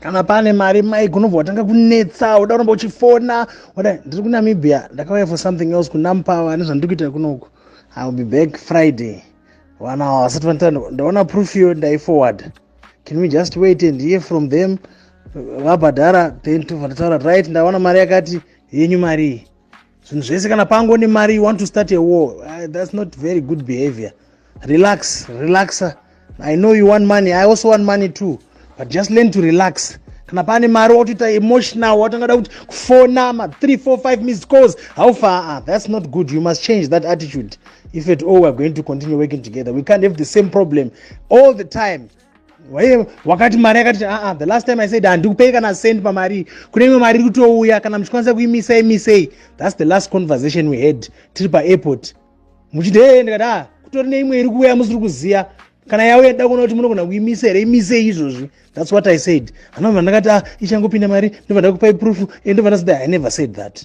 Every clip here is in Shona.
kana pane mari mai gunobva watanga kunetsa uda kuramba uchifona wada ndiri kunamibia ndakauya for something else kunampava nezvandiri kuita kunoku i will be back friday vana ava vasati vanita ndaona proof yo ndaiforward can we just wait and hear from them vabhadhara then tobva tataura right ndaona mari yakati yenyu marii zvinhu zvese kana pango nemari you want to start a war uh, that's not very good behavior relax relaxa i know you want money i also want money too but just learn to relax kana pane mari watoita emotional watangada kuti kufona ma 3 4 5 miss calls how far ah, that's not good you must change that attitude if at all we're going to continue working together we can't have the same problem all the time waye wakati mari yakati aa ah, ah, the last time i said handikupei kana send pamari kune imwe mari iri kutouya kana muchikwanisa kuimisai misei thats the last conversation we had tiri paairport muchiti hee ndikati a ah, kutori neimwe iri kuuya musiri kuziva kana yauya da kuona kuti munogona kuimisa here imisei izvozvi thats what i said anobva ndakati a ichangopinda mari ndobva ndakupai proof e ndobva ndasida i never said that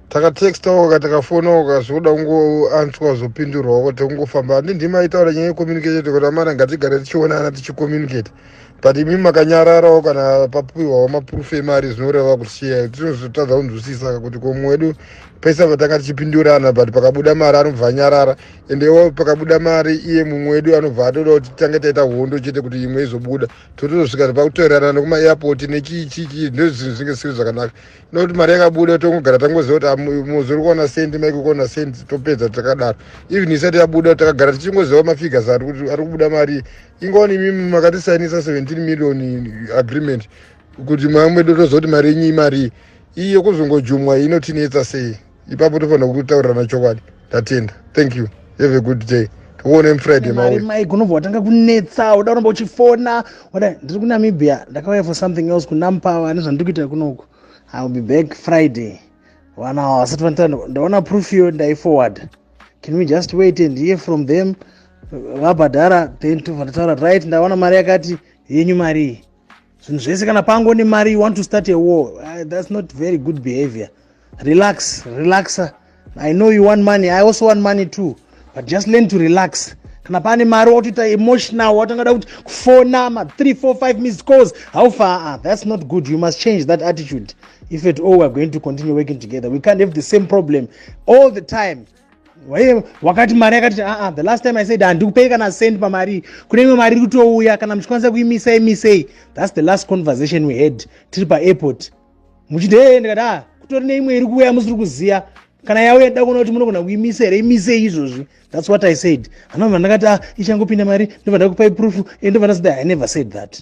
takatextawo ka takafonawo ka zvekuda kungoanswa zvopindurwawo kuti kungofamba handi ndimi aitaura nyaya yecommunicate kuti amana ngatigare tichionana tichicommunicate but imi makanyararawo kana papiwawo maproof emari zvinoreva kuti chiya tinozotadza kunzwisisa kuti komwe wedu pese patanga tichipindurana but pakabuda mari anobva anyarara ende iwo pakabuda mari iye mumwe wedu anobva atoda kuti tange taita hondo chete kuti imwe izobuda totozosvika pakutorerana nekuma airport nechii chii chii ndozvinhu zvinge zvisiri zvakanaka nokuti mari yakabuda tongogara tangoziva kuti ah, muzori kuona sendi maiko kuona sendi topedza takadaro even isati yabuda takagara tichingoziva mafigures ari kuti ari kubuda mari ingawani imimi makatisainisa 17 million agreement kuti mwamwe mwedu tozoti mari yenyu imarii iye kuzongojumwa inotinetsa sei ipapo tofanira kutaurirana chokwadi tatenda thank you have a good day tikuone mfriday mawe mai gunobva watanga kunetsa uda kuramba uchifona wada ndiri kunamibia ndakauya for something else kunampawa ane zvandiri kuita kunoku iwill be back friday vana ava vasati vanita ndaona proof yo ndaiforward can we just wait and hear from them vabhadhara then tobva ndataura right ndaona mari yakati yenyu marii zvinhu zvese kana pango nemari you want to start a war uh, that's not very good behavior relax relaxa i know you want money i also want money too but just learn to relax kana pane mari watoita emotional watangada kuti kufona ma 3 4 5 miss calls how far ah, that's not good you must change that attitude if at all we're going to continue working together we can't have the same problem all the time waiye wakati mari yakati aa ah, ah, the last time i said handikupei kana send pamari kune imwe mari iri kutouya kana muchikwanisa kuimisai misei thats the last conversation we had tiri paairport muchiti hee ndikati a ah, kutori neimwe iri kuuya musiri kuziva kana yauya da kuona kuti munogona kuimisa here imisei izvozvi thats what i said hanova ndakati a ichangopinda mari ndobva ndakupai proof e ndobva ndasida i never said that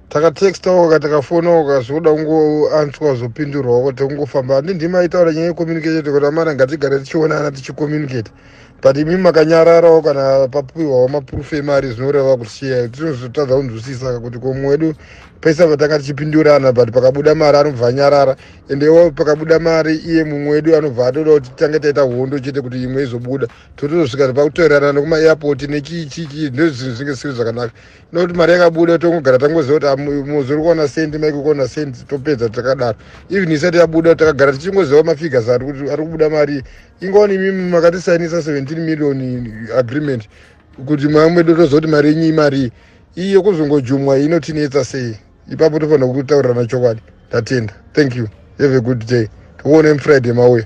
takatextawo ka takafonawo ka zvekuda kungoanswa zvopindurwawo kuti kungofamba handi ndimi aitaura nyaya yecommunicate kuti amana ngatigare tichionana tichicommunicate but imi makanyararawo kana papiwawo maproof emari zvinoreva kuti chiya tinozotadza kunzwisisa kuti komwe wedu pese patanga tichipindurana but pakabuda mari anobva anyarara ende iwo pakabuda mari iye mumwe wedu anobva atoda kuti tange taita hondo chete kuti imwe izobuda totozosvika pakutoerana nekuma airport nechii chii chii ndozvinhu zvinge zvisiri zvakanaka nokuti mari yakabuda tongogara tangoziva kuti ah, muzori kuona sendi maiko kuona sendi topedza takadaro even isati yabuda takagara tichingoziva mafigures ari kuti ari kubuda mari ingawani imimi makatisainisa 17 million agreement kuti mwaya mwedu toziva kuti mari yenyu imarii iyi yokuzongojumwa inotinetsa sei ipapo tofanira kutaurirana chokwadi tatenda thank you have a good day tikuone mufriday mauya